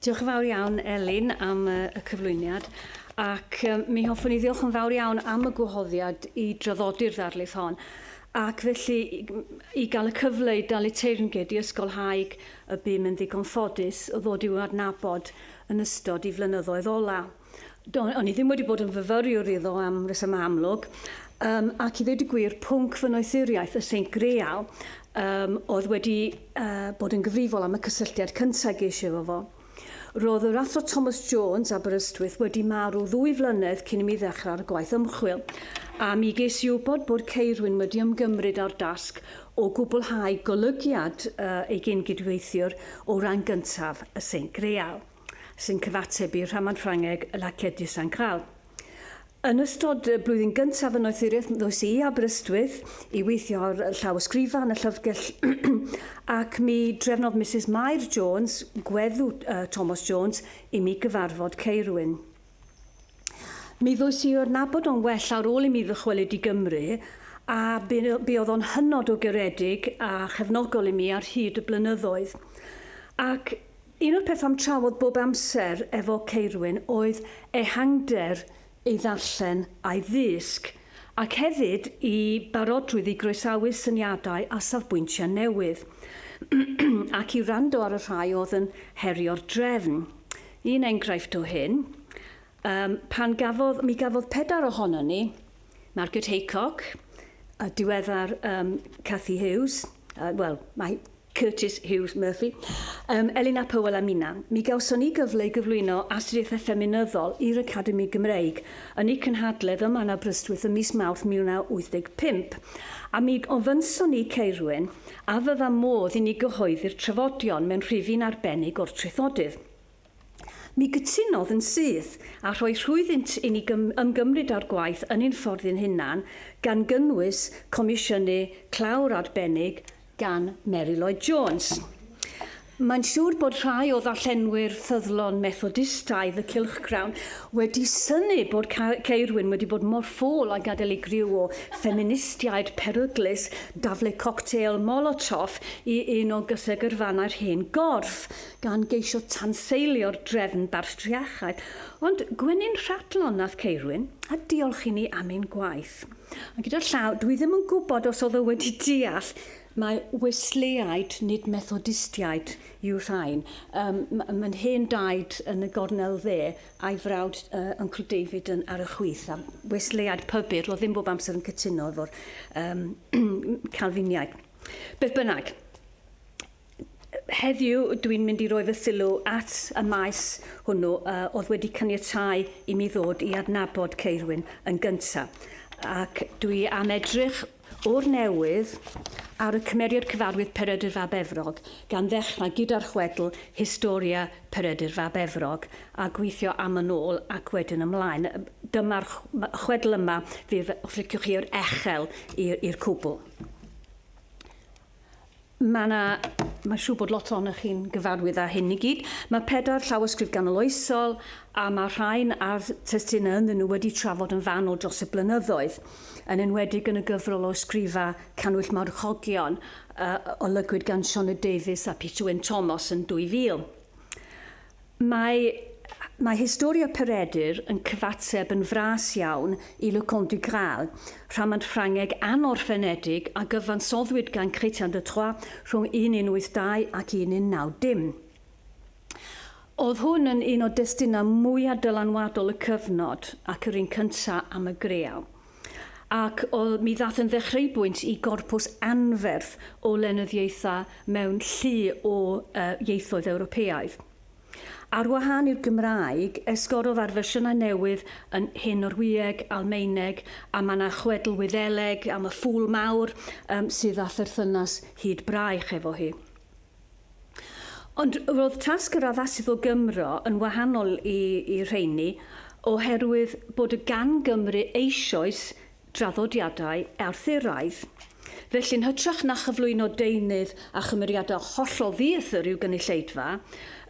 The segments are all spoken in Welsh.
Diolch yn fawr iawn, Elin, am y cyflwyniad, ac mi hoffwn i ddiolch yn fawr iawn am y gwahoddiad i draddodi'r ddarlith hon, ac felly i gael y cyfle i dalu teyrnged i ysgolhaig y bum yn ddigon ffodus o ddod i'w adnabod yn ystod i flynyddoedd ola'. Do, o'n i ddim wedi bod yn fyfyriwr iddo am resymau amlwg, um, ac i ddweud y gwir, pwnc fy noethuriaeth y Seint Greal um, oedd wedi uh, bod yn gyfrifol am y cysylltiad cyntaf geisio efo fo. Roedd yr athro Thomas Jones, Aberystwyth, wedi marw ddwy flynedd cyn i mi ddechrau ar y gwaith ymchwil, a mi ges i wybod bod Ceirwyn wedi ymgymryd â'r dasg o gwblhau golygiad uh, ei gyn-gydweithiwr o ran gyntaf y Seint Greal. sy'n cyfateb i rhamant Ffrangeg La Quête du Saint Graal. Yn ystod y blwyddyn gyntaf yn noethuriaeth ddoes i i Aberystwyth i weithio ar llawysgrifau yn y llyfrgell ac mi drefnodd Misus Mair Jones, gweddu Thomas Jones, i mi gyfarfod Ceirwyn. Mi ddoes i o'r nabod o'n well ar ôl i mi ddychwelyd i Gymru a buodd o'n hynod o garedig a chefnogol i mi ar hyd y blynyddoedd. Ac Un o'r pethau'm trafod bob amser efo Ceirwyn oedd ehangder ei ddarllen a'i ddysg, ac hefyd i barodrwydd i groesawu syniadau a safbwyntiau newydd, ac i wrando ar y rhai oedd yn herio'r drefn. Un enghraifft o hyn, yym, pan gafodd, mi gafodd pedair ohonon ni, Margaret Haycock, y diweddar, yym, Cathy Hughes, yy, wel, mae Curtis Hughes Murphy, um, Elina Powell a Mina, mi gawson ni gyfle i gyflwyno Astudiaethau Ffeminyddol i'r Academi Gymreig yn eu cynhadledd ym Man Aberystwyth ym mis Mawrth 1985, a mi ofynson ni Ceirwyn a fydda modd i ni gyhoeddi'r trafodion mewn rhifyn arbennig o'r traethodydd. Mi gytunodd yn syth â rhoi rhwyddynt i ni ymgymryd â'r gwaith yn ein ffordd ein hunan, gan gynnwys comisiynu clawr arbennig gan Mary Lloyd Jones. Mae'n siŵr bod rhai o ddarllenwyr ffyddlon Methodistaidd y cylchgrawn wedi synnu bod Caerwyn wedi bod mor ffôl a gadael i griw o ffeministiaid peryglus daflu coctêl Molotov i un o gysegyrfannau'r hen gorff. gan geisio tanseilio'r drefn bartriarchaidd, ond gwenyn rhadlon nath Ceirwyn, a diolch i ni am ein gwaith. A gyda llaw, dwi ddim yn gwybod os oedd o wedi deall mai Wesleyaid, nid Methodistiaid, yw rhain. Um, Mae'n hen daid yn y gornel dde, a'i frawd uh, Uncle David yn ar y chwith, a Wesleyaid pybyr, oedd ddim bob amser yn cytuno efo'r um, Calfiniaid. Beth bynnag, Heddiw, dwi'n mynd i roi fy sylw at y maes hwnnw a oedd wedi caniatáu i mi ddod i adnabod Ceirwyn yn gynta, ac dwi am edrych o'r newydd ar y cymeriad cyfarwydd Peredur fab Efrog, gan ddechrau gyda'r chwedl Historia Peredur fab Efrog, a gweithio am yn ôl ac wedyn ymlaen. Dyma'r chwedl yma, fydd, os liciwch chi, yr echel i'r cwbl. Mae 'na... mae'n siŵr bod lot ohonoch chi'n gyfarwydd â hyn i gyd. Mae pedair llawysgrif ganoloesol, a mae rhain a'r testunau ynddyn nhw wedi trafod yn fanwl dros y blynyddoedd, yn enwedig yn y gyfrol o ysgrifau Cannwyll Marwchogion, a olygwyd gan Sioned Davies a Peter Wyn Thomas yn 2000. Mae Mae Historia Peredur yn cyfateb yn fras iawn i Le Conte du Graal, rhamant Ffrangeg anorffenedig a gyfansoddwyd gan Chrétien de Troyes rhwng 1182 ac 1190. Oedd hwn yn un o destunau mwyaf dylanwadol y cyfnod, ac yr un cyntaf am y greau. ac o, mi ddaeth yn ddechreubwynt i gorpws anferth o lenyddiaethau mewn llu o uh, ieithoedd Ewropeaidd. Ar wahân i'r Gymraeg, esgorodd ar fersiynau newydd yn Hen Norwyeg, Almaeneg, a mae yna chwedl Wyddeleg am y ffŵl mawr um, sydd â pherthynas hyd braich efo hi. Ond roedd tasg yr addasydd o Gymro yn wahanol i, i'r rheiny, oherwydd bod y gan Gymru eisoes draddodiadau Arthuraidd. Felly, yn hytrach na chyflwyno deunydd a chymeriadau hollol ddiethr i'w gynulleidfa,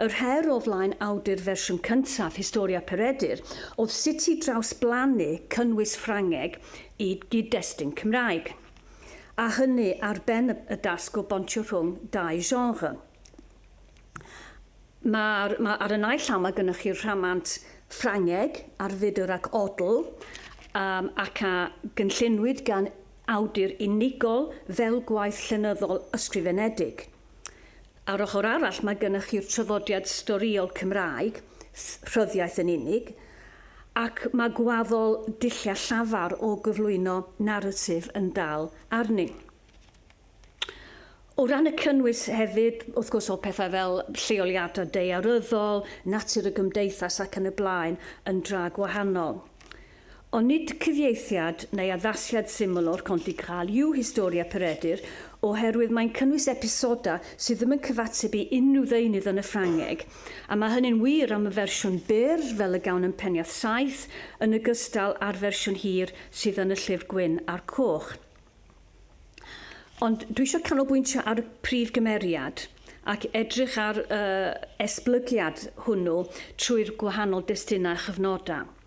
yr her o flaen awdur fersiwn cyntaf Historia Peredur oedd sut i drawsblannu cynnwys Ffrangeg i gyd-destun Cymraeg. a hynny ar ben y dasg o bontio rhwng dau genre. Mae'r, mae, ar y naill llaw mae gennych chi'r rhamant Ffrangeg ar fudr ac odl, um, ac a gynllunwyd gan awdur unigol fel gwaith llenyddol ysgrifenedig. A'r ochr arall mae gennych chi'r traddodiad storïol Cymraeg, rhyddiaith yn unig, ac mae gwaddol dulliau llafar o gyflwyno naratif yn dal arni. O ran y cynnwys hefyd, wrth gwrs oedd pethau fel lleoliadau daearyddol, natur y gymdeithas ac yn y blaen yn dra gwahanol. Ond nid cyfieithiad neu addasiad syml o'r Conte Crawl yw Historia Peredur, oherwydd mae'n cynnwys episodau sydd ddim yn cyfateb i unrhyw ddeunydd yn y Ffrangeg, a mae hynny'n wir am y fersiwn byr, fel y gawn yn Peniarth Saith, yn ogystal â'r fersiwn hir sydd yn y Llyfr Gwyn a'r Coch. Ond dwi eisiau canolbwyntio ar y prif gymeriad ac edrych ar y esblygiad hwnnw trwy'r gwahanol destunau a chyfnodau.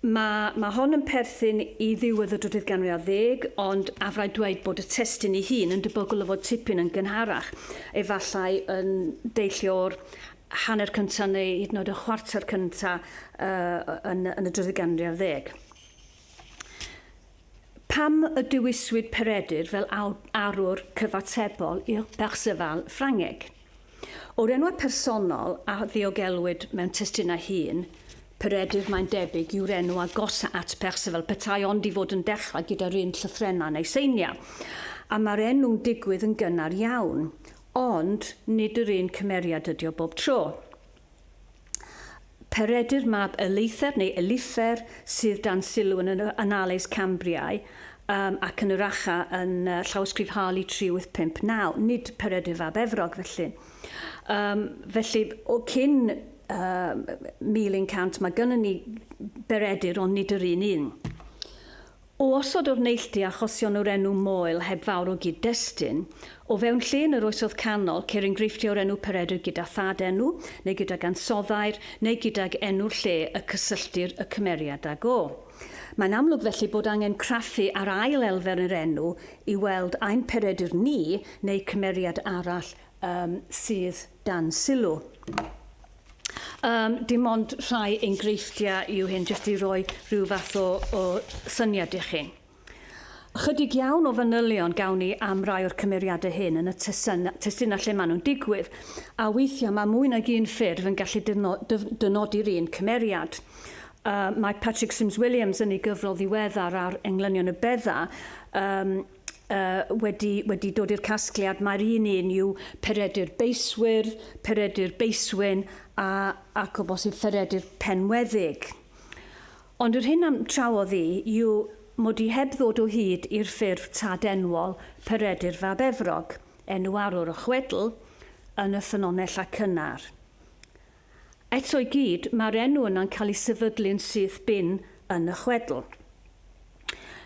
Mae mae hon yn perthyn i ddiwedd y drydydd ganrif ar ddeg, ond afraid dweud bod y testun ei hun yn debygol o fod tipyn yn gynharach, efallai yn deillio o'r hanner cyntaf neu hyd yn oed y chwarter cyntaf yn yn y drydydd ganrif ar ddeg. Pam y dewiswyd Peredur fel awd- arwr cyfatebol i'r Perceval Ffrangeg? O'r enwau personol a ddiogelwyd mewn testunau hŷn, Peredur mae'n debyg yw'r enw agosa at Perceval petai ond i fod yn dechrau gyda'r un llythrennau neu seiniau, a mae'r enw'n digwydd yn gynnar iawn. Ond, nid yr un cymeriad ydi o bob tro. Peredur mab Eluther, neu Elifer, sydd dan sylw yn yr Annales Cambriae um, ac yn yr Acha yn uh, llawysgrif Harley 3859, nid Peredur fab Efrog felly. Um, felly, o cyn uh, 1100 mae gennym ni Beredur ond nid yr un un. O osod o'r neilltu achosion o'r enw Moel heb fawr o gyd-destun, o fewn lle yn yr Oesoedd Canol, ceir enghreifftiau o'r enw Peredur gyda thad-enw, neu gydag ansoddair, neu gydag enw'r lle y cysylltir y cymeriad ag o. Mae'n amlwg felly bod angen craffu ar ail elfen yr enw i weld ai'n Peredur ni neu cymeriad arall sydd dan sylw. Um, dim ond rhai enghreifftiau yw hyn, jyst i roi rhyw fath o, o syniad i chi. Chydig iawn o fanylion gawn ni am rai o'r cymeriadau hyn yn y testunau lle maen nhw'n digwydd, a weithiau mae mwy nag un ffurf yn gallu dynodi'r un cymeriad. Uh, mae Patrick Sims Williams yn ei gyfrol ddiweddar ar englynion y bedda, um, uh, wedi, wedi dod i'r casgliad, mae'r un un yw Peredur Beiswyr, Peredur Beiswyn a, ac o bosib Peredur Penweddig. Ond yr hyn am trawodd i yw mod i heb ddod o hyd i'r ffurf tad enwol Peredur Fab Efrog, enw arwr o chwedl, yn y ffynonell a cynnar. Eto i gyd, mae'r enw yna'n cael ei sefydlu'n syth bin yn y chwedl.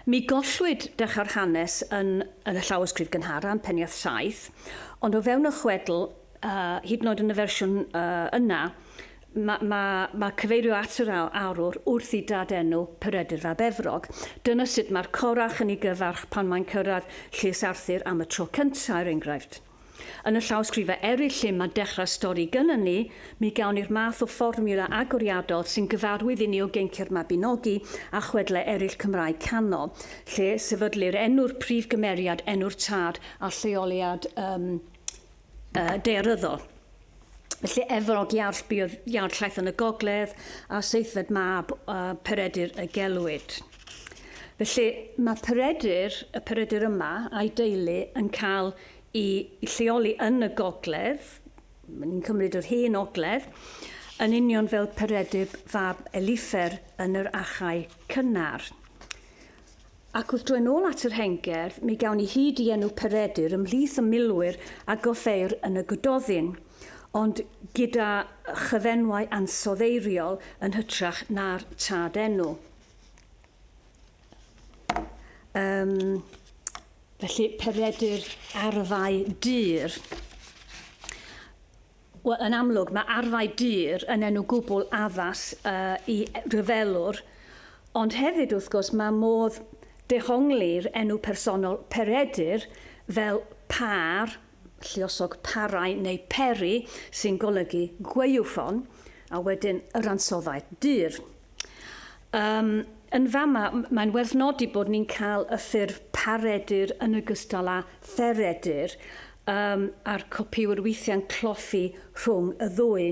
Mi gollwyd dechrau'r hanes yn y llawysgrif gynharaf, yn Peniarth 7, ond o fewn y chwedl, hyd yn oed yn y fersiwn yna, mae ma, ma cyfeirio at yr arwr wrth i dad-enw Peredur fab Efrog. Dyna sut mae'r Corach yn ei gyfarch pan mae'n cyrraedd Llys Arthur am y tro cyntaf, er enghraifft. Yn y llawysgrifau eraill lle mae dechrau'r stori gynnon ni, mi gawn ni'r math o fformiwla agoriadol sy'n gyfarwydd i ni o Geincia'r Mabinogi a chwedlau eraill Cymraeg Canol, lle sefydlir enw'r prif gymeriad, enw'r tad a lleoliad um, uh, daearyddol. Felly Efrog, Iawr, buodd Iawr llaeth yn y gogledd, a seithfed mab uh, Peredur y gelwid. Felly mae Peredur, y Peredur yma, a'i deulu yn cael i lleoli yn y gogledd, ni'n cymryd yr hen ogledd, yn union fel Peredur fab Elifer yn yr achau cynnar. Ac wrth droi'n ôl at yr hen gerdd, mi gawn ni hyd i enw Peredur ymhlith y milwyr a goffeir yn y Gododdin, ond gyda chyfenwau ansoddeiriol yn hytrach na'r tad enw. Yym, felly, Peredur arfau dur. Wel, yn amlwg, mae arfau dur yn enw gwbl addas i ryfelwr, ond hefyd, wrth gwrs, mae modd dehongli'r enw personol Peredur fel pâr, lluosog parau neu peri, sy'n golygu gwaywffon, a wedyn yr ansoddau dur. Yym, yn fama, mae'n werth nodi bod ni'n cael y ffurf Paredur yn ogystal â Theredur, yym, a'r copïwyr weithiau'n cloffi rhwng y ddwy.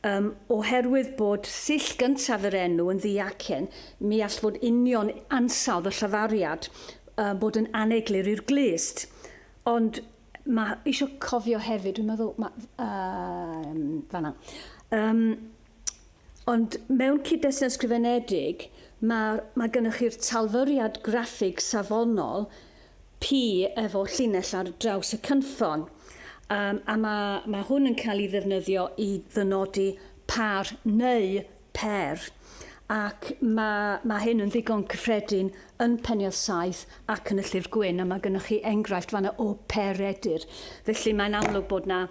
Yym, oherwydd bod sill gyntaf yr enw yn ddiacen, mi all fod union ansawdd y llafariad yy bod yn aneglur i'r glust. Ond ma'... Isio cofio hefyd, dwi'n meddwl, ma', yym, fan'na. Yym, Ond mewn cyd-destun ysgrifenedig, mae mae gennych chi'r talfyriad graffig safonol pi efo llinell ar draws y cynffon, um, a mae mae hwn yn cael ei ddefnyddio i ddynodi par neu pêr, ac mae mae hyn yn ddigon cyffredin yn Peniarth 7 ac yn y Llyfr Gwyn, a mae gennych chi enghraifft fanna o pêr redur. Felly mae'n amlwg bod 'na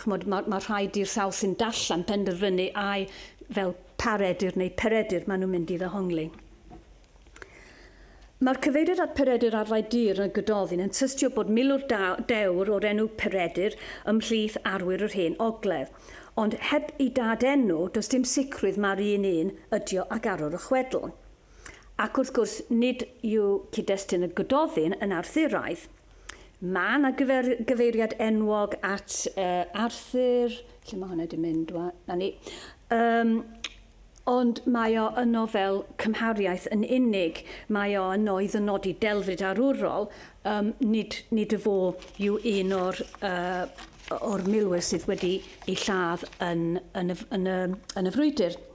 Ch'mod, ma' ma' rhai dirsawdd sy'n darllen penderfynu ai fel Peredur neu Peredur maen nhw'n mynd i ddehongli. Mae'r cyfeiriad at Peredur arfau dur yn y Gododdin yn tystio bod milwr da, dewr o'r enw Peredur ymhlith arwyr yr Hen Ogledd. Ond heb i dad-enw, does dim sicrwydd mai'r un un ydio ag arwr y chwedl. Ac wrth gwrs, nid yw cyd-destun y Gododdin yn Arthuraidd. Mae 'na gyfer, gyfeiriad enwog at uh, Arthur, lle mae hwnna wedi mynd, na ni. Um, ond mae o yno fel cymhariaeth yn unig, mae o yno i ddynodi delfryd arwrol, um, nid, nid y fo yw un o'r, uh, o'r milwyr sydd wedi ei lladd yn, yn, y, yn, y, yn y frwydr.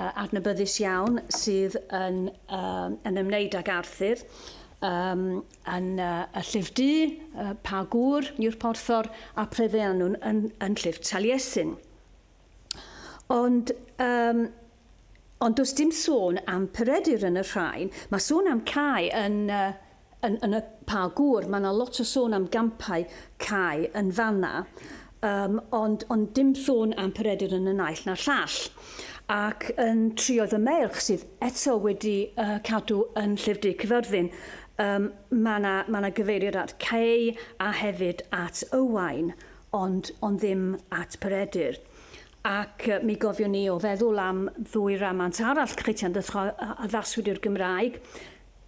adnabyddus iawn sydd yn, um, yn ymwneud ag Arthur, um, yn uh, y llif du, uh, pa gŵr yw'r porthor, a pryddeu nhw'n yn, yn llif Taliesin. Ond, um, ond does dim sôn am Peredur yn y rhain, mae sôn am Cai yn uh, Yn yn y Pa Gŵr, mae yna lot o sôn am gampau cae yn fanna, um, ond, ond dim sôn am Peredur yn y naill na'r llall. Ac yn trio fy meirch sydd eto wedi uh, cadw yn Llyfr Du Cyfyrddin, um, mae yna ma na gyfeiriad at Cei a hefyd at Ywain, ond, ond ddim at Peredur. Ac uh, mi gofiwn ni o feddwl am ddwy ramant arall Critian a addaswyd i'r Gymraeg,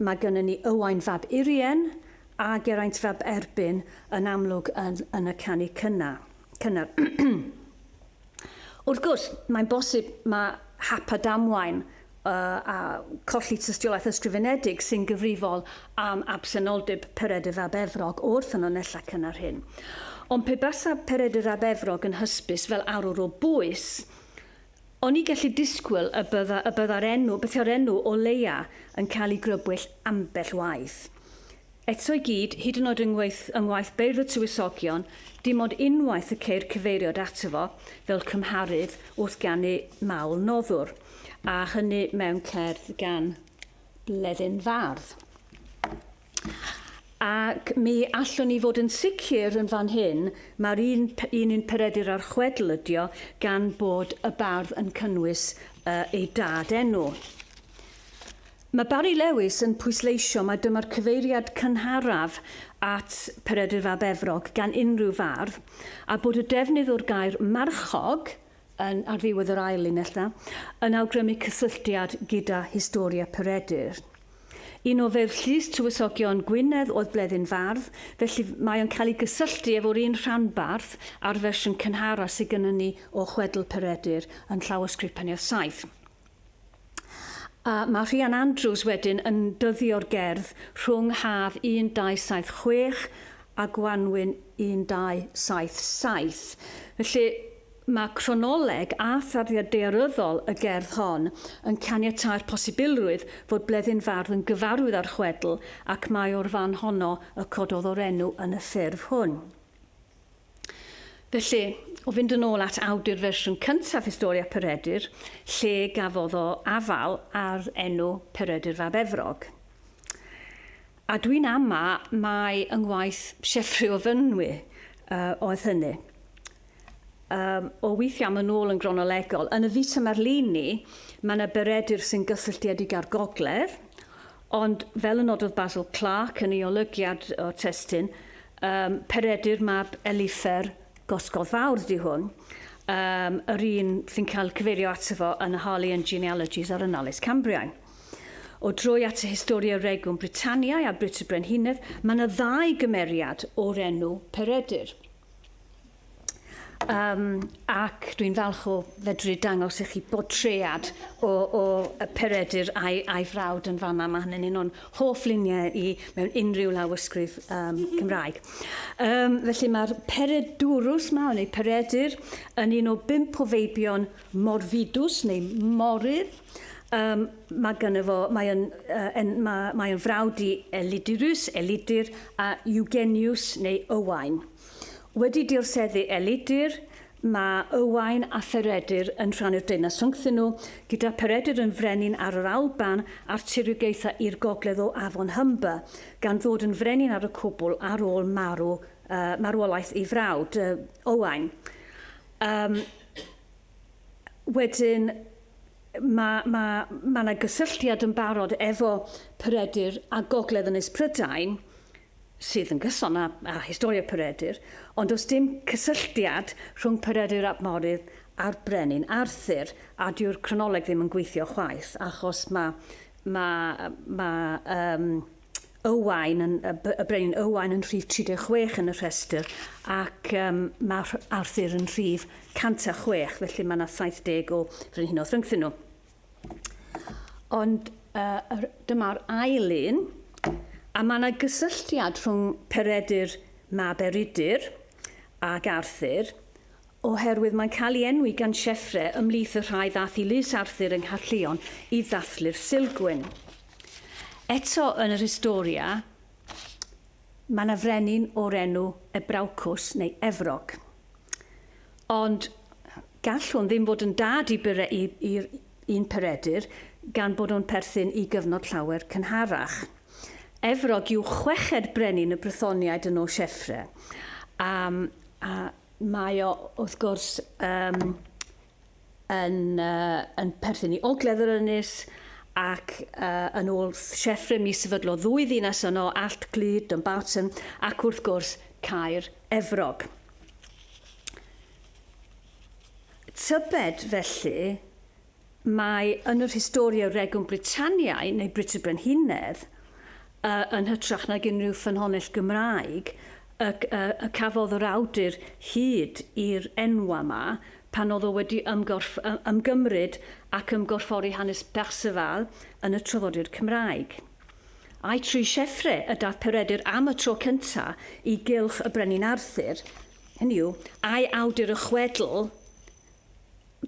Mae gynnon ni Owain fab Urien a Geraint fab Erbyn yn amlwg yn yn y canu cynna, cynnar. Wrth gwrs, mae'n bosib mae hap a damwain uh, a colli tystiolaeth ysgrifenedig sy'n gyfrifol am absenoldeb Peredur fab Efrog o'r ffynonellau cynnar hyn. Ond pe basa Peredur fab Efrog yn hysbys fel arwr o bwys, O'n i gallu disgwyl y bydda, y bydda'r enw, byddai'r enw, o leia, yn cael ei grybwyll ambell waith. Eto i gyd, hyd yn oed yng ngwaith, yng ngwaith Beirdd y Tywysogion, dim ond unwaith y ceir cyfeiriad ato fo fel cymharydd wrth ganu Mawl Noddwr, a hynny mewn cerdd gan Bleddyn Fardd. Ac mi allwn ni fod yn sicr yn fan hyn, mae'r un, un un peredur a'r chwedl ydio gan bod y bardd yn cynnwys uh, ei dad enw. Mae Barry Lewis yn pwysleisio mae dyma'r cyfeiriad cynharaf at Peredur Fab Efrog gan unrhyw fardd, a bod y defnydd o'r gair marchog yn, ar ddiwedd yr ail linell 'na, yn awgrymu cysylltiad gyda Historia Peredur. Un o Feirdd Llys Tywysogion Gwynedd oedd Bleddyn Fardd, felly mae o'n cael ei gysylltu efo'r un rhanbarth a'r fersiwn cynhara sy gynnon ni o chwedl Peredur yn Llawysgrif Peniarth Saith. A mae Rhian Andrews wedyn yn dyddio'r gerdd rhwng haf 1276 a gwanwyn 1277. Felly, mae cronoleg a tharddiad daearyddol y gerdd hon yn caniatáu'r posibilrwydd fod Bleddyn Fardd yn gyfarwydd â'r chwedl ac mai o'r fan honno y cododd o'r enw yn y ffurf hwn. Felly, o fynd yn ôl at awdur fersiwn cyntaf Historia Peredur, lle gafodd o afal ar enw Peredur fab Efrog. A dwi'n ama mai yng ngwaith Sieffre o Fynwy uh, oedd hynny. Um, o weithiau am yn ôl yn gronolegol, yn y Vita Marlini, mae yna Beredur sy'n gysylltiedig â'r gogledd, Ond, fel y nododd Basil Clarke yn ei olygiad o'r testun, um, peredu'r mab Elifer gosgodd fawr di hwn, um, yr un sy'n cael cyfeirio ato fo yn y Harley and Genealogies a'r Annales Cambriae. O droi at y Historia Regum Britanniae a Brit y Brenhinedd, mae yna ddau gymeriad o'r enw Peredur. Um, ac dwi'n falch o fedru dangos i chi bodread o, o y peredur a'i, ai frawd yn fanna. Mae hynny'n un o'n hoff luniau i mewn unrhyw lawysgrif um, Cymraeg. Um, felly mae'r peredurus ma, neu peredur, yn un o bimp o feibion morfidus neu morydd. Yym, mae gynno fo, mae yn, uh, en, mae, mae yn frawd i Elidurus, Elidur, a Eugenius neu Ywain. Wedi dirseddu Elidur, mae Ywain a Pheredur yn rhannu'r deyrnas rhyngthyn nhw, gyda Peredur yn frenin ar yr Alban a'r tiriogaethau i'r gogledd o Afon Humber, gan ddod yn frenin ar y cwbl ar ôl marw, uh, marwolaeth ei frawd, uh, Owain. Um, wedyn mae, mae, mae yna gysylltiad yn barod efo Peredur a Gogledd Ynys Prydain, sydd yn gyson â, â historia Peredur, ond does dim cysylltiad rhwng Peredur ap Morydd a'r brenin Arthur, a dyw'r cronoleg ddim yn gweithio chwaith, achos mae, mae, mae, um, Owain yn, y brenin Owain yn rhif 36 yn y rhestr ac um, mae Arthur yn rhif 106, felly mae yna 70 o frenhinoedd rhyngthyn nhw. Ond uh, dyma'r ail un, a mae yna gysylltiad rhwng Peredur mab Eridur ac Arthur, oherwydd mae'n cael ei enwi gan Sieffre ymlith y rhai ddath i Lys Arthur yng Ngharllion i ddathlu'r Silgwyn. Eto yn yr Historia, mae yna frenin o'r enw Ebraucus neu Efrog. Ond gall hwn ddim fod yn dad i bere- i- i'r un Peredur gan bod nhw'n perthyn i gyfnod llawer cynharach. Efrog yw chweched brenin y Brythoniaid yn ôl Sieffre. A, a mae o, wrth gwrs, um, yn, uh, yn perthyn i Ogledd yr Ynys, ac uh, yn ôl Sieffre mi sefydlo ddwy ddinas yno, Allt Glyd, Dumbarton, ac wrth gwrs Caer Efrog. Tybed felly mae yn yr Historia Regum Britanniae neu Brut y Brenhinedd y yn hytrach nag unrhyw ffynhonnell Gymraeg y y y cafodd yr awdur hyd i'r enwau 'ma pan oedd o wedi ymgorff- y ymgymryd ac ymgorffori hanes Perceval yn y traddodiad Cymraeg. Ai trwy Sieffre y daeth Peredur am y tro cynta i gylch y Brenin Arthur, hynny yw, ai awdur y chwedl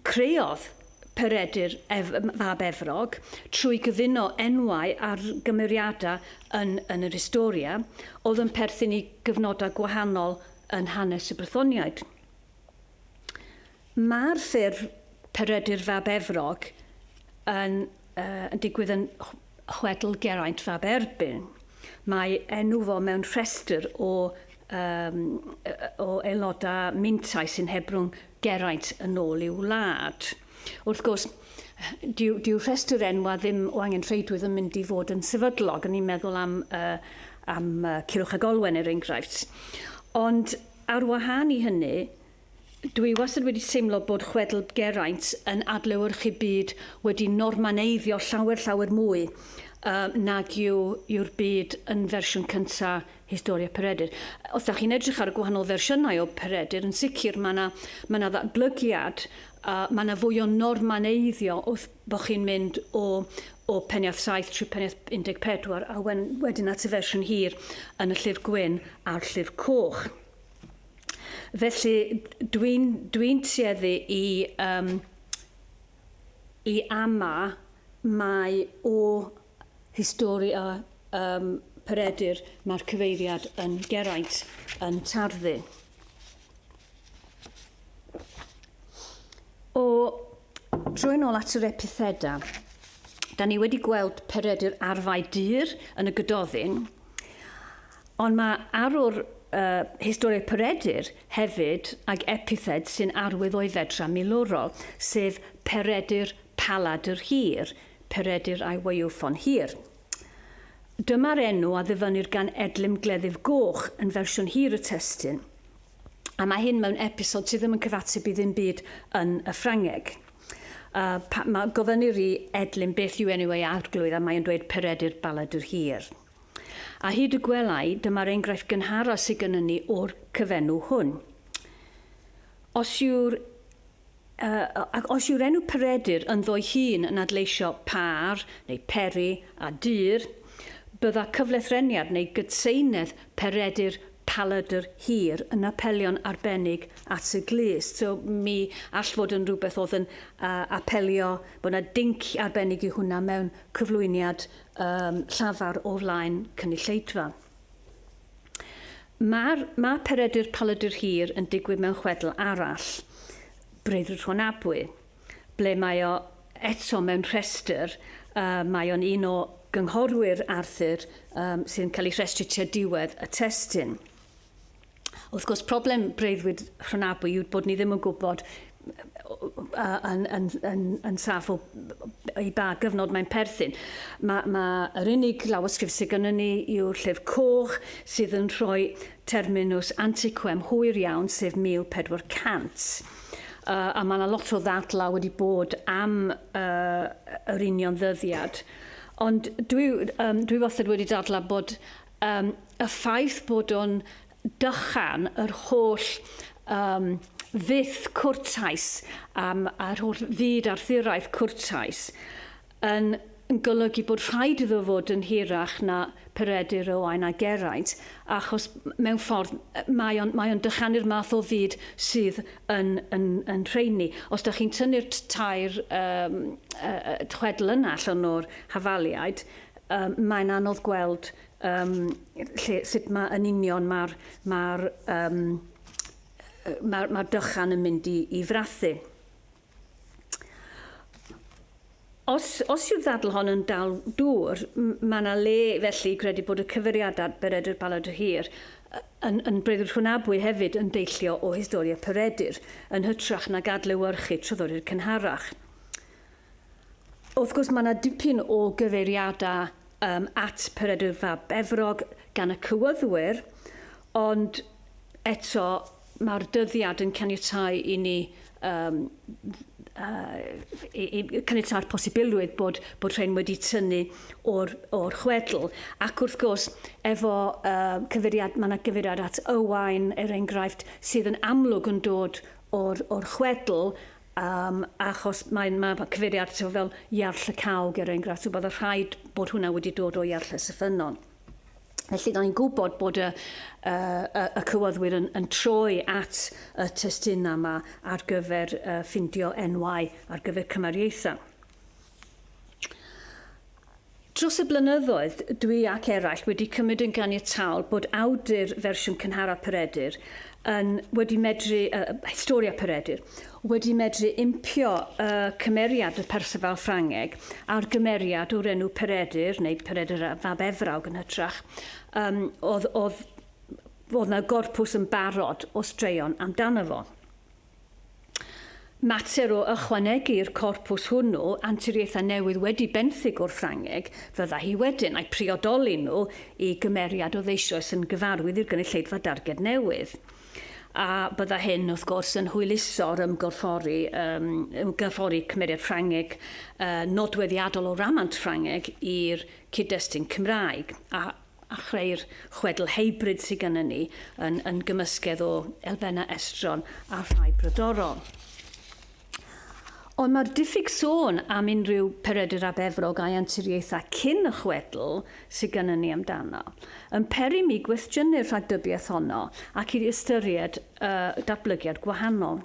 Creodd Peredur ef fab Efrog trwy gyfuno enwau ar gymeriadau yn yn yr Historia oedd yn perthyn i gyfnodau gwahanol yn hanes y Brythoniaid. Mae'r ffurf Peredur fab Efrog yn yn digwydd yn chwedl Geraint fab Erbyn. Mae enw fo mewn rhestr o yym o aelodau mintau sy'n hebrwng geraint yn ôl i'w wlad. Wrth gwrs, dyw, dyw rhestr enwa ddim o angen rheidrwydd yn mynd i fod yn sefydlog, yn i'n meddwl am, uh, am uh, Cilwch ag Olwen er enghraifft. Ond ar wahân i hynny, Dwi wastad wedi teimlo bod chwedl Geraint yn adlewyrchu byd wedi normaneiddio llawer llawer mwy uh, nag yw, yw'r byd yn fersiwn cyntaf Historia Peredur. Os dach chi'n edrych ar y gwahanol fersiynau o Peredur, yn sicr mae yna ma yna ddatblygiad, a mae yna fwy o normaneiddio wrth bod chi'n mynd o o peniath 7 trwy peniath 14 a wen, wedyn at y fersiwn hir yn y llyfr gwyn a'r llyfr coch. Felly dwi'n dwi tueddu i um, i ama mae o Histori a um, Peredur, mae'r cyfeiriad yn Geraint yn tarddu. O, trwy'n ôl at yr epitheda, da ni wedi gweld Peredur arfau dyr yn y gydoddyn, ond mae arwr uh, historiau Peredur hefyd ag epithed sy'n arwydd o'i fedra milwrol, sef Peredur Palad yr Hir, Peredur I Weuw Ffon Hir. Dyma'r enw a ddyfynnir gan Edlym Gleddyf Goch yn fersiwn hir y testun, a mae hyn mewn episod sydd ddim yn cyfateb i ddim byd yn y Ffrangeg. Uh, pa, ma, gofynnir i Edlym beth yw enw ei arglwydd a mae'n dweud Peredur Baladur Hir. A hyd y gwelai, dyma'r enghraifft gynharaf sydd gennym ni o'r cyfenw hwn. Os yw'r Ac os yw'r enw Peredur ynddo'i hun yn adleisio pâr, neu peri, a dŷr, bydda cyflethreniad neu gydseinedd Peredur Paladr Hir yn apelio'n arbennig at y glust. So, mi all fod yn rhywbeth oedd yn apelio, bod 'na dinc arbennig i hwnna mewn cyflwyniad llafar o flaen cynulleidfa. Mae'r mae Peredur Paludur Hir yn digwydd mewn chwedl arall, Breuddwyd Rhon Abwy, ble mae o eto mewn rhestr, uh, mae o'n un o gynghorwyr Arthur um, sy'n cael ei rhestru tua diwedd y testyn. Wrth gwrs, problem breuddwyd Rhonabwy yw bod ni ddim yn gwybod yn, yn, yn, yn saff o i ba gyfnod mae'n perthyn. Mae, mae yr unig lawysgrif sydd gennym ni yw'r llyfr coch sydd yn rhoi terminus antiquem hwyr iawn, sef 1400. Uh, a mae yna lot o ddadlau wedi bod am uh, yr union ddyddiad. Ond dwi, um, dwi wastad wedi dadlau bod um, y ffaith bod o'n dychan yr holl um, fyth cwrtais um, a'r holl fyd arthuraeth cwrtais yn, yn golygu bod rhaid iddo fod yn hirach na Peredur Owain a Geraint, achos mewn ffordd mae o'n, mae on dychanu'r math o fyd sydd yn, yn, yn rheini. Os da chi'n tynnu'r tair um, uh, chwedl yna allan o'r hafaliaid, um, mae'n anodd gweld um, lle, sut mae yn union mae'r ma um, ma, ma dychan yn mynd i, i frathu. Os, os yw'r ddadl hon yn dal dŵr, mae yna le felly credu bod y cyfeiriadau Beredur Baladr Hir yn, yn Bredur Hwnabwy hefyd yn deillio o historia Peredur, yn hytrach na gadlewyrchu tryddori'r cynharach. Wrth gwrs, mae yna dipyn o gyfeiriadau um, at Peredur fab Efrog gan y cywyddwyr, ond eto mae'r dyddiad yn caniatau i ni um, uh, i, i caniatau'r posibilrwydd bod, bod rhain wedi tynnu o'r, or chwedl. Ac wrth gwrs, efo uh, cyfeiriad, mae yna gyfeiriad at Ywain, er enghraifft, sydd yn amlwg yn dod o'r, or chwedl, Yym, achos mae'n ma' ma' cyfeiriad ato fo fel Iarll y Cawg er enghraifft, so bydde rhaid bod hwnna wedi dod o Iarll Ys y Ffynnon. Felly, da ni'n gwybod bod y, uh, y, y cywaddwyr yn, yn troi at y testunau yma ar gyfer uh, ffindio enwau ar gyfer cymariaethau. Dros y blynyddoedd, dwi ac eraill wedi cymryd yn ganiataol bod awdur fersiwn cynharaf Peredur yn, wedi medru, uh, Historia Peredur, wedi medru impio y uh, cymeriad y Perceval Ffrangeg a'r gymeriad o'r enw Peredur, neu Peredur a Fab Efrawg yn hytrach, um, oedd, oedd, oedd na gorpws yn barod o straeon amdano fo. Mater o ychwanegu i'r corpws hwnnw anturiaethau newydd wedi benthyg o'r Ffrangeg fydda hi wedyn, a'u priodoli nhw i gymeriad oedd eisoes yn gyfarwydd i'r gynulleidfa darged newydd. A bydda hyn, wrth gwrs, yn hwyluso'r ymgorffori, yym, ymgorffori cymeriad Ffrangeg yy nodweddiadol o ramant Ffrangeg i'r cyd-destun Cymraeg, a a chreu'r chwedl hybrid sydd gennym ni yn, yn gymysgedd o elfennau estron a rhai brodorol. Ond mae'r diffyg sôn am unrhyw Peredur ap Efrog a'i anturiaethau cyn y chwedl sydd gennym ni amdano yn peri mi gwestiynu'r rhagdybiaeth honno ac i ystyried y datblygiad gwahanol.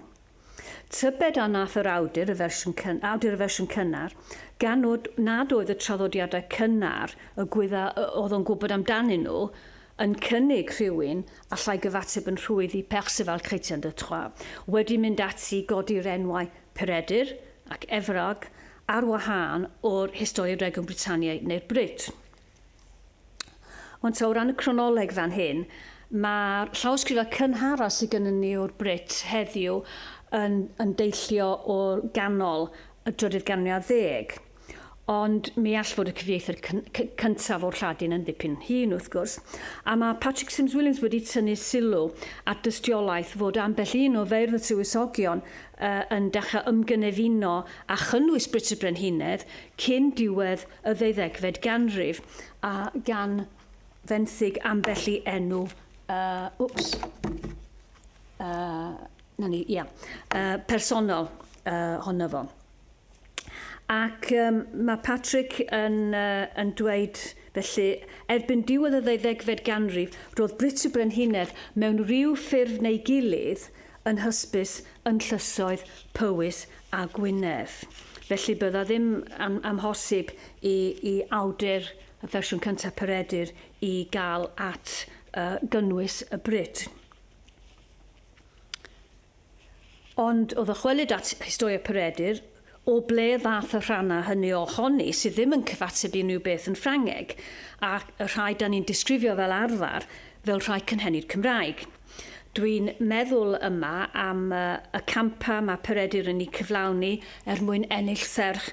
Tybed a wnaeth yr awdur y fersiwn cynnar, gan nad oedd y traddodiadau cynnar y Gwyddau a oedd o'n gwybod amdanyn nhw yn cynnig rhywun allai gyfateb yn rhwydd i Perceval Chrétien de Troyes, wedi mynd ati i godi'r enwau Peredur ac Evrog ar wahân o'r Historia Regum Britanniae neu'r Brit. Ond ta o ran y cronoleg fan hyn, mae'r llawysgrifau cynharaf sydd gennym ni o'r Brit heddiw yn, yn deillio o ganol y drydydd ganriad ddeg. Ond mi all fod y cyfieithyr cyntaf o'r Lladin yn ddipyn hŷn, wrth gwrs. A mae Patrick Sims Williams wedi tynnu sylw at dystiolaeth fod ambell un o feirdd y Tywysogion uh, yn dechrau ymgynefino a chynnwys Brit y Brenhinedd cyn diwedd y ddeuddegfed ganrif, a gan fenthyg ambell i enw, uh, wps, uh, na ni, ia, uh, personol uh, honno fo. Ac um, mae Patrick yn, uh, yn dweud, felly, erbyn diwedd y ddeuddegfed ganrif, roedd Brut y Brenhinedd mewn rhyw ffurf neu gilydd yn hysbys yn llysoedd Powys a Gwynedd. Felly bydda ddim yn amhosib i i awdur y fersiwn cyntaf Peredur i gael at y gynnwys y brut. Ond o ddychwelyd at Historia Peredur, o ble ddath y rhannau hynny o honi sydd ddim yn cyfateb i unrhyw beth yn Ffrangeg, ac y rhai da ni'n disgrifio fel arfer fel rhai cynhenid Cymraeg? Dwi'n meddwl yma am y campau mae Peredur yn eu cyflawni er mwyn ennill serch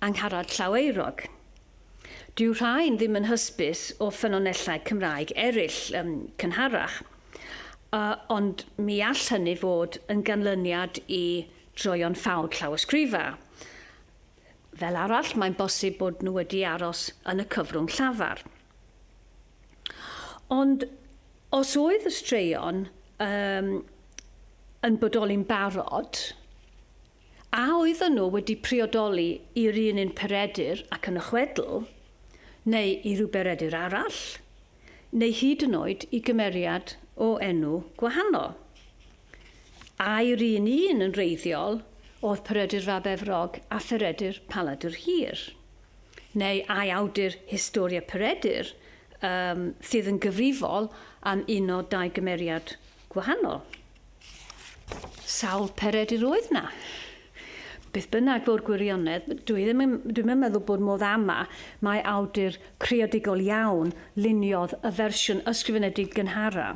Angharad Llaweurog. Dyw rhain ddim yn hysbys o ffynonellau Cymraeg eraill cynharach, ond mi all hynny fod yn ganlyniad i droion ffawd llawysgrifau. Fel arall, mae'n bosib bod nhw wedi aros yn y cyfrwng llafar. Ond os oedd y straeon um, yn bodoli'n barod, a oedden nhw wedi priodoli i'r un un peredur ac yn y chwedl, neu i ryw beredur arall, neu hyd yn oed i gymeriad o enw gwahanol. Ai'r un un yn reiddiol oedd Peredur Fab Efrog a Pheredur Paladr Hir? neu ai awdur Historia Peredur yym sydd yn gyfrifol am un o dau gymeriad gwahanol? Sawl Peredur oedd 'na? Beth bynnag fo'r gwirionedd, dwi ddim yn, dwi'm yn meddwl bod modd ama mai awdur creadigol iawn luniodd y fersiwn ysgrifenedig gynhara,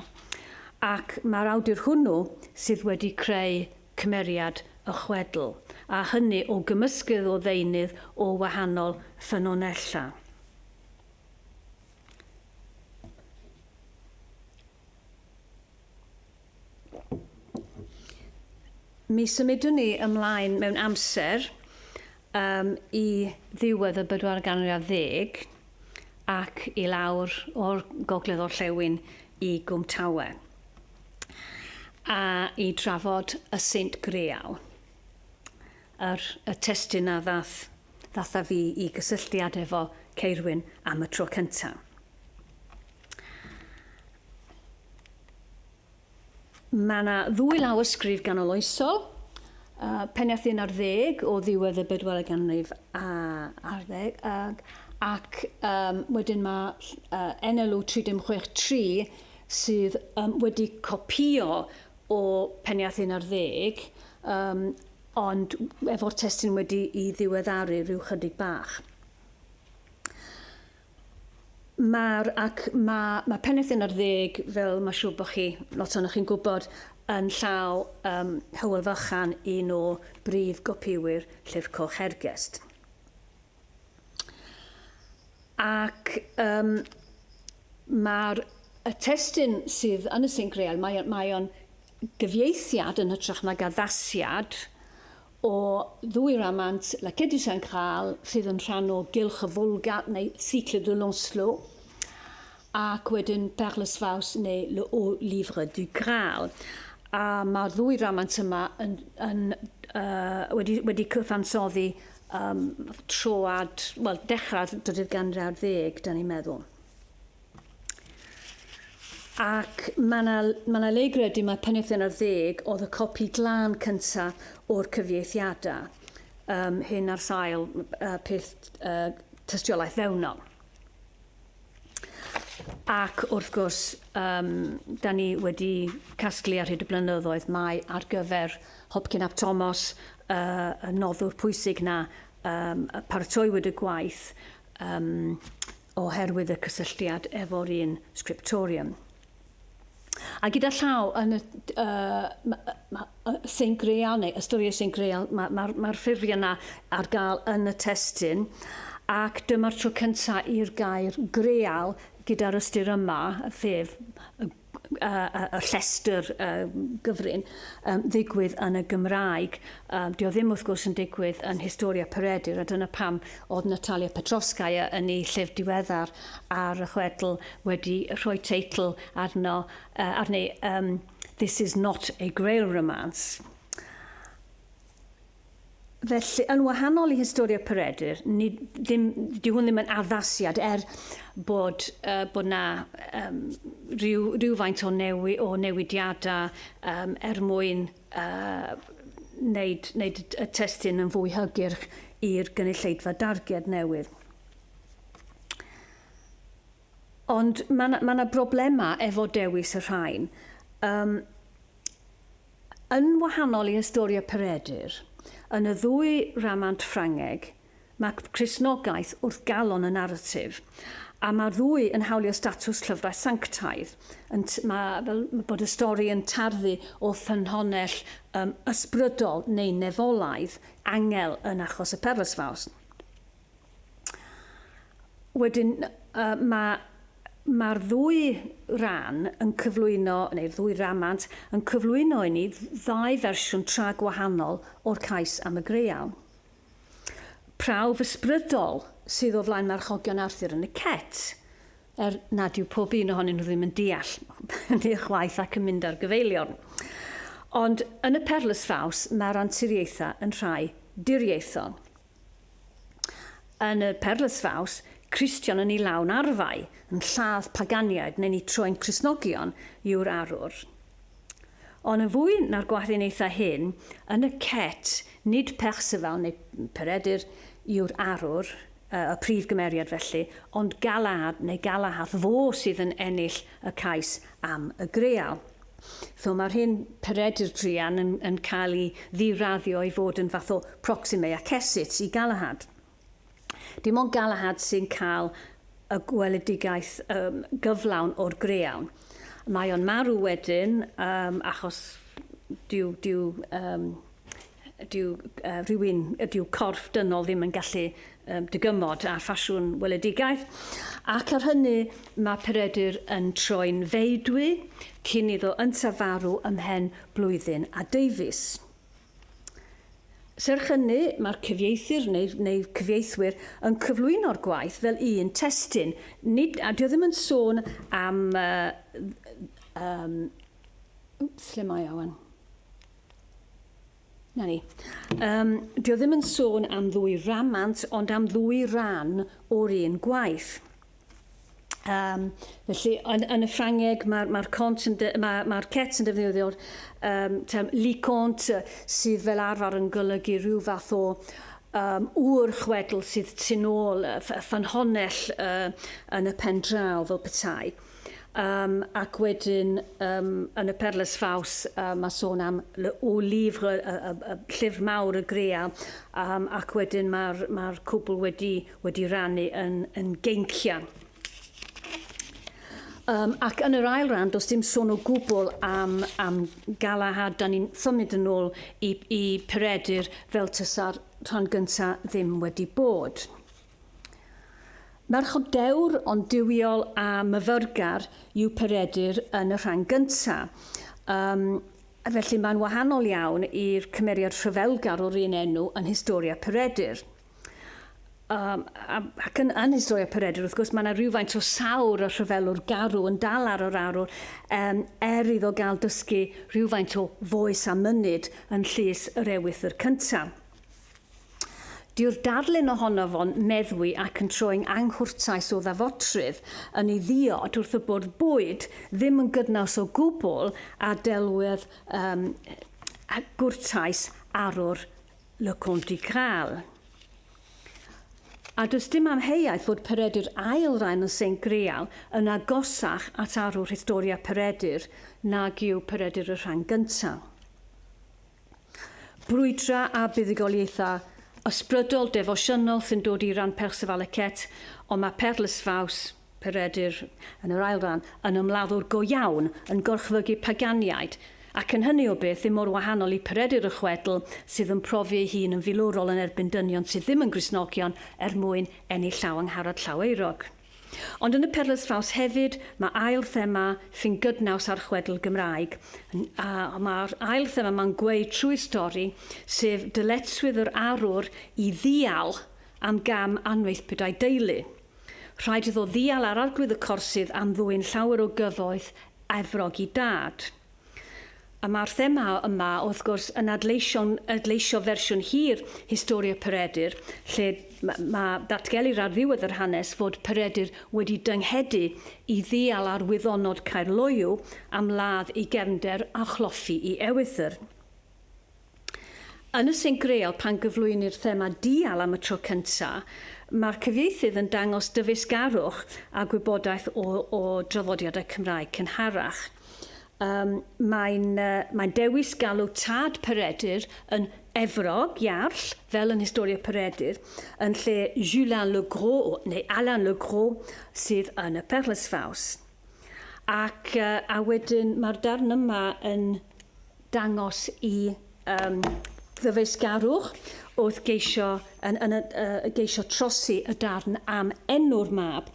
ac mae'r awdur hwnnw sydd wedi creu cymeriad y chwedl, a hynny o gymysgedd o ddeunydd o wahanol ffynonellau. Mi symudwn ni ymlaen mewn amser um, i ddiwedd y bedwar ganriad ddeg ac i lawr o'r gogledd orllewin i Gwmtawe. a i drafod y Saint Greal. Yr, y testun a ddath, ddath a fi i gysylltiad efo Ceirwyn am y tro cynta. Mae yna ddwy lawysgrif ganoloesol, uh, pennaeth un ar ddeg o ddiwedd y bedwaredd ganrif a, ar ddeg, ac, ac um, wedyn mae uh, NLU 3063 sydd um, wedi copïo o Peniarth un ar ddeg, um, ond efo'r testyn wedi i ddiweddaru rhyw chydig bach. Mae'r, ac mae, mae Peniarth un ar ddeg, fel mae siŵr bod chi, lot o'n chi'n gwybod, yn llaw um, Hywel Fychan, un o brif gopïwyr Llyfr Coch Hergest. Ac um, mae'r y testyn sydd yn y Sinc Real, mae, mae o'n gyfieithiad yn hytrach nag addasiad o ddwy ramant La Quête du Saint Graal sydd yn rhan o Gylch y Volga neu Cycle de Lancelot ac wedyn Perles Faus neu Le Haut Livre du Graal. A mae'r ddwy ramant yma yn, yn, uh, wedi, wedi cyfansoddi Ym troad, wel, dechrau'r drydydd ganrif ar ddeg, da ni'n meddwl. Ac mae yna ma le i gredu mae Penrhyn ar ddeg oedd y copi glân cyntaf o'r cyfieithiadau um, hyn ar sail uh, peth uh, tystiolaeth fewnol. Ac wrth gwrs, um, da ni wedi casglu ar hyd y blynyddoedd mae ar gyfer Hopcyn ap Tomos uh, y noddwr pwysig na um, paratoiwyd y gwaith um, oherwydd y cysylltiad efo'r un scriptorium. A gyda llaw yn y Saint Grail, neu y stori y Saint Grail, mae'r ma, ma, ffurfiau yna ar gael yn y testyn, ac dyma'r tro cyntaf i'r gair greal gyda'r ystyr yma, sef y, y, y llestr y gyfrin, um, ddigwydd yn y Gymraeg. Um, dio ddim wrth gwrs yn digwydd yn Historia Peredur, a dyna pam Oedd Natalia Petrovskaya yn ei llyfr diweddar ar y chwedl wedi rhoi teitl arno, uh, arni, um, This is not a Grail romance. Felly, yn wahanol i Historia Peredur, ni, ddim, di hwn ddim yn addasiad er bod, uh, bod na um, rhyw, rhywfaint o, newi, o newidiadau um, er mwyn a wneud, wneud y testun yn fwy hygyrch i'r gynulleidfa darged newydd. Ond mae yna ma broblemau efo dewis y rhain. Um, yn wahanol i Historia Peredur, yn y ddwy ramant Ffrangeg, Mae Cristnogaeth wrth galon y naratif, a mae'r ddwy yn hawlio statws llyfrau sanctaidd. Yn t- mae fel bod y stori yn tarddu o ffynhonnell um, ysbrydol neu nefolaidd, angel yn achos y Perlas Fawr. Wedyn, uh, mae mae'r ddwy ran yn cyflwyno, neu'r ddwy ramant, yn cyflwyno i ni ddau fersiwn tra gwahanol o'r cais am y greial. prawf ysbrydol sydd o flaen marchogion Arthur yn y Cet, er nad yw pob un ohonyn nhw ddim yn deall hynny chwaith ac yn mynd ar gyfeiliorn. Ond yn y Perlus Faws mae'r anturiaethau yn rhai diriaethol. Yn y Perlus Faws, Cristion yn ei lawn arfau, yn lladd paganiaid neu'n eu troi'n Cristnogion yw'r arwr. Ond yn fwy na'r gwahddinaethau hyn, yn y cet, nid Perceval neu Peredur yw'r arwr, y prif gymeriad felly, ond Galaad neu Galahad, fo sydd yn ennill y cais am y greal. So mae'r hyn Peredur druan yn, yn cael ei ddiraddio i fod yn fath o proxime accesit i Galahad. Dim ond Galahad sy'n cael y gweledigaeth um, gyflawn o'r greawn. Mae o'n marw wedyn um, achos dyw, dyw, um, dyw, uh, rhywun, dyw corff dynol ddim yn gallu um, dygymod ar ffasiwn weledigaeth. Ac ar hynny mae Peredur yn troi'n feidwy cyn iddo yntaf farw ymhen blwyddyn a deufis. Serch hynny, mae'r cyfieithyr neu neu cyfieithwyr yn cyflwyno'r gwaith fel un testun, nid, a dio ddim yn sôn am uh, um, wps, lle mae awan? Na ni. Um, dio ddim yn sôn am ddwy ramant, ond am ddwy ran o'r un gwaith. Um, felly, yn, yn y Ffrangeg, mae'r ma mae ma cets yn defnyddio'r um, term licont sydd fel arfer yn golygu rhyw fath o um, ŵr chwedl sydd tu ôl y ffynhonell uh, yn y pen draw fel petai. Um, ac wedyn um, yn y perles faws uh, mae sôn am o lifr y, y, y, y llyfr mawr y greia um, ac wedyn mae'r ma cwbl wedi wedi rannu yn, yn geincian. Um, ac yn yr ail ran, does dim sôn o gwbl am, am galahad. Da ni'n symud yn ôl i, i Peredur fel tysa'r rhan gyntaf ddim wedi bod. Merch o dewr ond diwiol a myfyrgar yw Peredur yn y rhan gyntaf. Um, felly mae'n wahanol iawn i'r cymeriad rhyfelgar o'r un enw yn Historia Peredur. Um, ac yn, yn Israel a Peredr, wrth gwrs, mae yna rhywfaint o sawr y rhyfelwr garw yn dal ar yr arwr um, er iddo gael dysgu rhywfaint o foes a mynyd yn llys yr ewythr cyntaf. Dyw'r darlun ohono fo'n meddwi ac yn troi'n anghwrtais o ddafodrydd yn ei ddiod wrth y bwrdd bwyd ddim yn gydnaws o gwbl a delwedd um, gwrtais arwr Le Conte Graal. A does dim amheuaeth fod Peredur Ail Ran y Saint Greal yn agosach at arwr Historia Peredur nag yw Peredur y Rhan Gyntaf. Brwydra a buddugoliaethau ysbrydol, defosiynol sy'n dod i ran Perceval y Cet, ond mae Perles Faws, Peredur, yn yr ail ran, yn ymladdwr go iawn, yn gorchfygu paganiaid, ac yn hynny o beth ddim mor wahanol i Peredur y chwedl sydd yn profi ei hun yn filwrol yn erbyn dynion sydd ddim yn Gristnogion er mwyn ennill llaw Angharad Llaweurog. Ond yn y Perlys Ffawt hefyd mae ail thema sy'n gydnaws â'r chwedl Gymraeg, a mae'r ail thema yma'n gweud trwy'r stori, sef dyletswydd yr arwr i ddial am gam anfeithbid a'i deulu. Rhaid iddo ddial ar Arglwydd y Corsydd am ddwyn llawer o gyfoeth Efrog i dad. A mae'r thema yma, wrth gwrs, yn adleisio'n adleisio fersiwn hir Historia Peredur, lle mae datgelir ar ddiwedd yr hanes fod Peredur wedi dynghedu i ddial ar wyddonod Caerloyw am ladd ei gefnder a chloffi i ewythr. Yn y Saint Grail, pan gyflwynir thema dial am y tro cyntaf, mae'r cyfieithydd yn dangos dyfeisgarwch a gwybodaeth o, o draddodiadau Cymraeg cynharach. Um, mae'n, uh, mae'n dewis galw tad Peredur yn Efrog, Iarll, fel yn Historia Peredur, yn lle Julin le Gros neu Alain le Gros sydd yn y Perlesfaws. Ac yy a wedyn mae'r darn yma yn dangos i um, ddyfeisgarwch wrth geisio, yn, yn, uh, geisio trosi y darn am enw'r mab.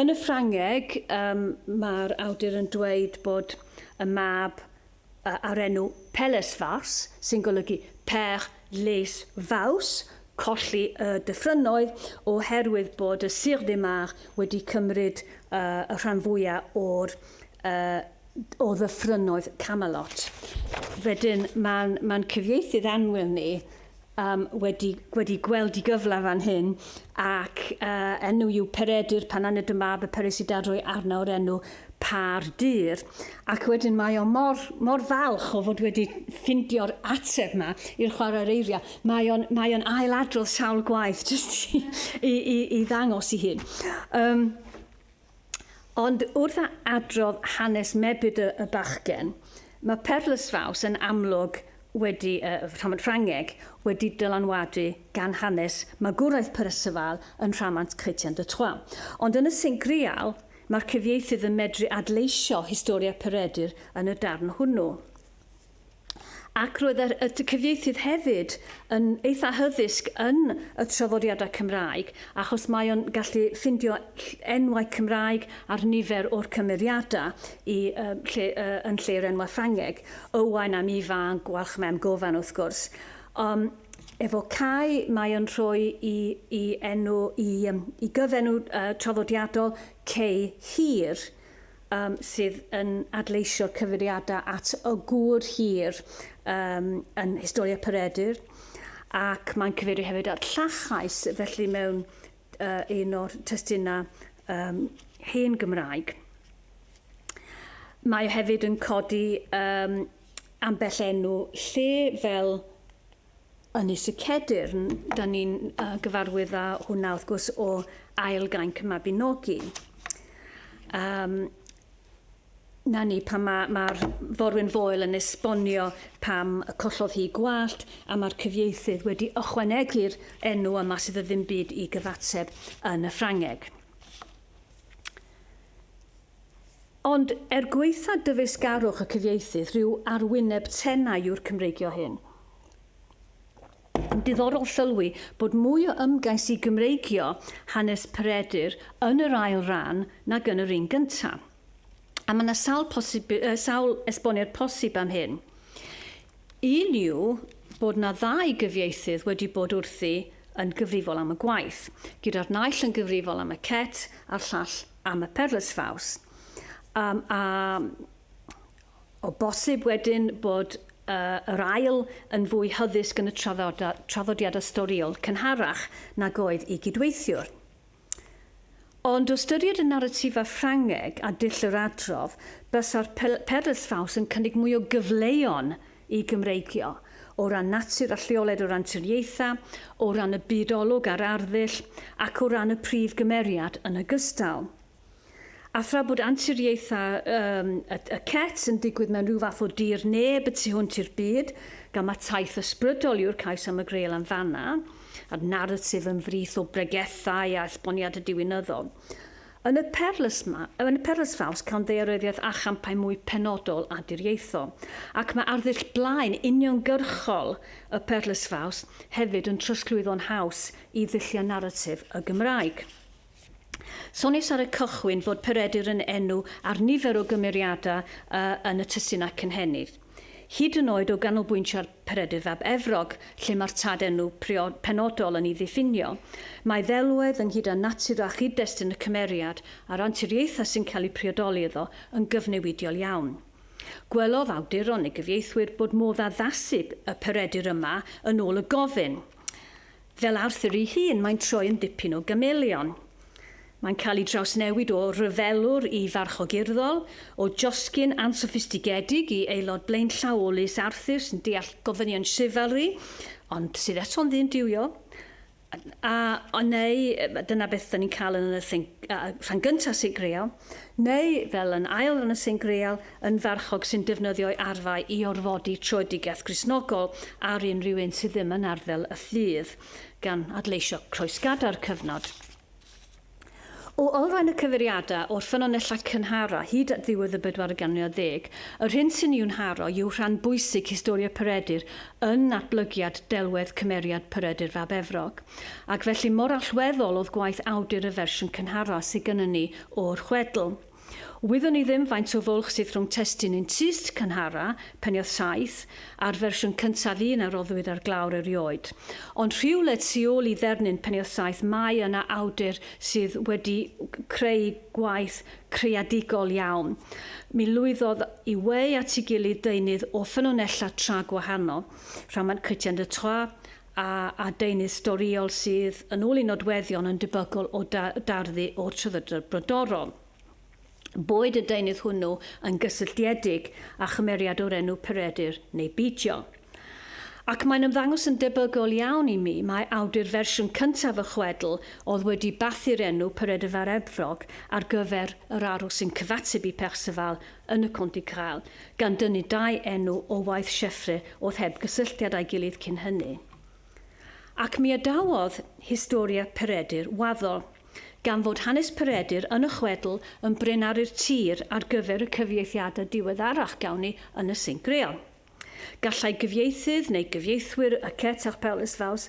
Yn y Ffrangeg, um, mae'r awdur yn dweud bod y mab a'r enw Pelles Fawrs, sy'n golygu Pêr les Vaus, colli y dyffrynnoedd, oherwydd bod y Sir de Mar wedi cymryd y rhan fwyaf o'r, o ddyffrynnoedd Camelot. Wedyn, mae'n cyfieithydd annwyl ni, Yym, wedi, wedi gweld i gyfle fan hyn, ac uh, enw yw Peredur pan aned y mab y peres i dadroi arna o'r enw Par Dyr. Ac wedyn mae o mor, mor falch o fod wedi ffindio'r ateb yma i'r chwarae'r eiriau. Mae o'n, mae on ail adrodd sawl gwaith jyst i, i, i, i ddangos i hun. Um, Ond wrth a adrodd hanes mebyd y y bachgen, mae perlysfaws yn amlwg wedi y y rhamant Ffrangeg wedi dylanwadu gan hanes magwraeth Perysifal yn rhamant Chrétien de Troyes. Ond yn y sync real, mae'r cyfieithydd yn medru adleisio historia Peredur yn y darn hwnnw. Ac roedd y cyfieithydd hefyd yn eitha hyddysg yn y traddodiadau Cymraeg achos mae o'n gallu ffindio enwau Cymraeg ar nifer o'r cymeriadau i, uh, lle, uh, yn lle yr enwau Ffrangeg. Owain am Ifan, Gwalch Mem Gofan wrth gwrs. Um, efo Cai mae o'n rhoi i, i enw, i, um, i gyfenw uh, traddodiadol Cei Hir. um, sydd yn adleisio'r cyfeiriadau at y gŵr hir um, yn Historia Peredur, ac mae'n cyfeirio hefyd at llachais, felly mewn uh, un o'r testunau um, hen Gymraeg. Mae hefyd yn codi um, ambell enw lle fel Yn Is y Cedyrn, da ni'n uh, gyfarwydd â hwnna wrth gwrs o ail gainc y Mabinogi. Um, na ni pan mae'r ma, ma forwyn foel yn esbonio pam y collodd hi gwallt a mae'r cyfieithydd wedi ychwanegu'r enw yma sydd y ddim byd i gyfateb yn y Ffrangeg. Ond, er gwaetha dyfeisgarwch y cyfieithydd, rhyw arwyneb tenau yw'r Cymreigio hyn. Diddorol sylwi bod mwy o ymgais i Gymreigio hanes Peredur yn yr ail ran nag yn yr un gynta. A mae yna sawl posib, yy, sawl esboniad posib am hyn. Un yw bod yna ddau gyfieithydd wedi bod wrthi yn gyfrifol am y gwaith, gyda'r naill yn gyfrifol am y cet a'r llall am y perlysfaws. Um, a o bosib wedyn bod uh, yr ail yn fwy hyddysg yn y traddodiadau storiol cynharach nag oedd i gydweithiwr. Ond o ystyried y naratifau Ffrangeg a dull yr adrodd, bysa'r perlysfaws yn cynnig mwy o gyfleon y Gymreigio, o ran natur a lleoliad o ran triniaethau, o ran y byd olwg a'r arddull, ac o ran y prif gymeriad yn ogystal. A thra bod anturiaethau um, y, y cet yn digwydd mewn rhyw fath o dir neb y tu hwnt i'r byd, gan mae taith ysbrydol yw'r cais am y greul am fanna, a'r naratif yn frith o bregethau a esboniad y diwinyddol. Yn y perlys ma, yn y perlys faws cawn ddaearyddiaeth a champau mwy penodol a diriaethol. Ac mae arddull blaen uniongyrchol y perlys faws hefyd yn trosglwyddo'n haws i ddulliau naratif y Gymraeg. Soniais ar y cychwyn fod Peredur yn enw ar nifer o gymeriadau yn y testuna cynhenid. Hyd yn oed o ganolbwyntio'r Peredur fab Efrog, lle mae'r tad enw priod penodol yn ei ddiffinio. Mae ddelwedd ynghyd â natur a chyd-destun y cymeriad a'r anturiaethau sy'n cael eu priodoli iddo yn gyfnewidiol iawn. Gwelodd awduron neu gyfieithwyr bod modd addasu y Peredur yma yn ôl y gofyn. Fel Arthur ei hun, mae'n troi yn dipyn o gameleon. Mae'n cael ei drawsnewid o ryfelwr i farchog urddol, o joscyn ansoffistigedig i aelod blaenllaw o lys Arthur sy'n deall gofynion chivalry, ond sydd eto'n ddyn duwiol. A, neu, dyna beth 'da ni'n cael yn y thing, rhan gyntaf Sic Real. neu fel yn ail yn y Sengreal, yn farchog sy'n defnyddio'i arfau i orfodi troedigaeth Gristnogol ar unrhyw un sydd ddim yn arddel y ffydd, gan adleisio croesgadau'r cyfnod. O olrhain y cyfeiriadau o'r ffynonellau cynharaf hyd at ddiwedd y bedwaredd ganrif ar ddeg, yr hyn sy'n i'w nharo yw rhan bwysig Historia Peredur yn natblygiad delwedd cymeriad Peredur fab Efrog, ac felly mor allweddol oedd gwaith awdur y fersiwn cynharaf sydd gynnon ni o'r chwedl. Wyddwn i ddim faint o fwlch sydd rhwng testun un tyst cynharaf, Peniodd Saith, a'r fersiwn cyntaf un a roddwyd ar glawr erioed. Ond rhywle tu ôl i ddernyn Peniodd Saith mae yna awdur sydd wedi creu gwaith creadigol iawn. Mi lwyddodd i weu at ei gilydd deunydd o ffynonellau tra gwahanol, rhamant Chrétien de Troyes a a deunydd storïol sydd, yn ôl ei nodweddion, yn debygol o da- darddu o'r Traddodiad Brodorol. Boed y deunydd hwnnw yn gysylltiedig â chymeriad o'r enw Peredur neu beidio. Ac mae'n ymddangos yn debygol iawn i mi mai awdur fersiwn cyntaf y chwedl oedd wedi bathu'r enw Peredur Fab Efrog ar gyfer yr arwr sy'n cyfateb i Perceval yn y Conte Grael, gan dynnu dau enw o waith Sieffre oedd heb gysylltiad â'i gilydd cyn hynny. Ac mi adawodd Historia Peredur waddol, gan fod hanes Peredur yn y chwedl yn brenaru'r tir ar gyfer y cyfieithiadau diweddarach gawn ni yn y Saint Grael. Gallai gyfieithydd neu gyfieithwyr y Cert Apêl Isfaws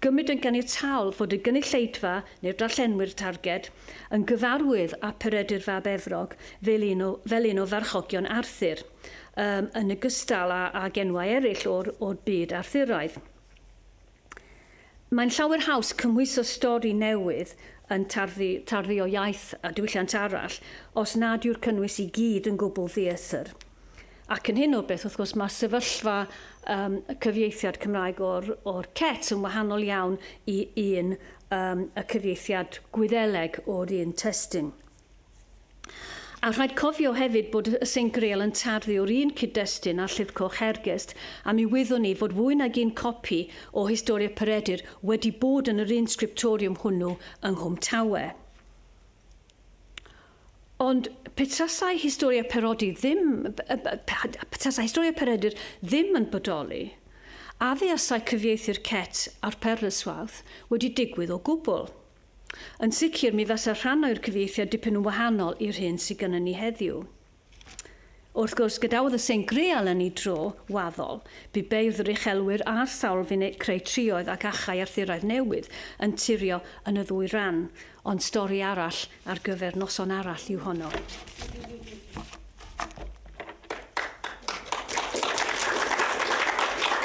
gymryd yn ganiataol fod y gynulleidfa neu'r darllenwyr targed yn gyfarwydd â Peredur fab Efrog fel un o fel un o farchogion Arthur, yym, yn ogystal â ag enwau eraill o'r o'r byd Arthuraidd. Mae'n llawer haws cymhwyso stori newydd yn tarddu, tarddu o iaith a diwylliant arall, os nad yw'r cynnwys i gyd yn gwbl ddieithr. Ac yn hyn o beth, wrth gwrs, mae sefyllfa um, cyfieithiad Cymraeg o'r, or CET yn wahanol iawn i un um, y cyfieithiad Gwyddeleg o'r un testun. A rhaid cofio hefyd bod y Saint Grail yn tarddu o'r un cyd-destun â'r Llyfr Coch Hergest, a mi wyddwn i fod fwy nag un copi o Historia Peredur wedi bod yn yr un sgriptoriwm hwnnw yng Nghwm Tawe. Ond pe tasai Historia Perodi ddim, pe tasai Historia Peredur ddim yn bodoli, a fuasai cyfieithu'r Cett a'r Perlyswawth wedi digwydd o gwbl? Yn sicr, mi fasa rhan oer cyfieithiad dipyn yn wahanol i'r hyn sy gynnon ni heddiw. Wrth gwrs, gadawodd y Saint Greal yn ei dro, waddol. Bu beirdd yr uchelwyr a'r sawl fu'n eu creu trioedd ac achau Arthuraidd newydd yn turio yn y ddwy ran, ond stori arall ar gyfer noson arall yw honno.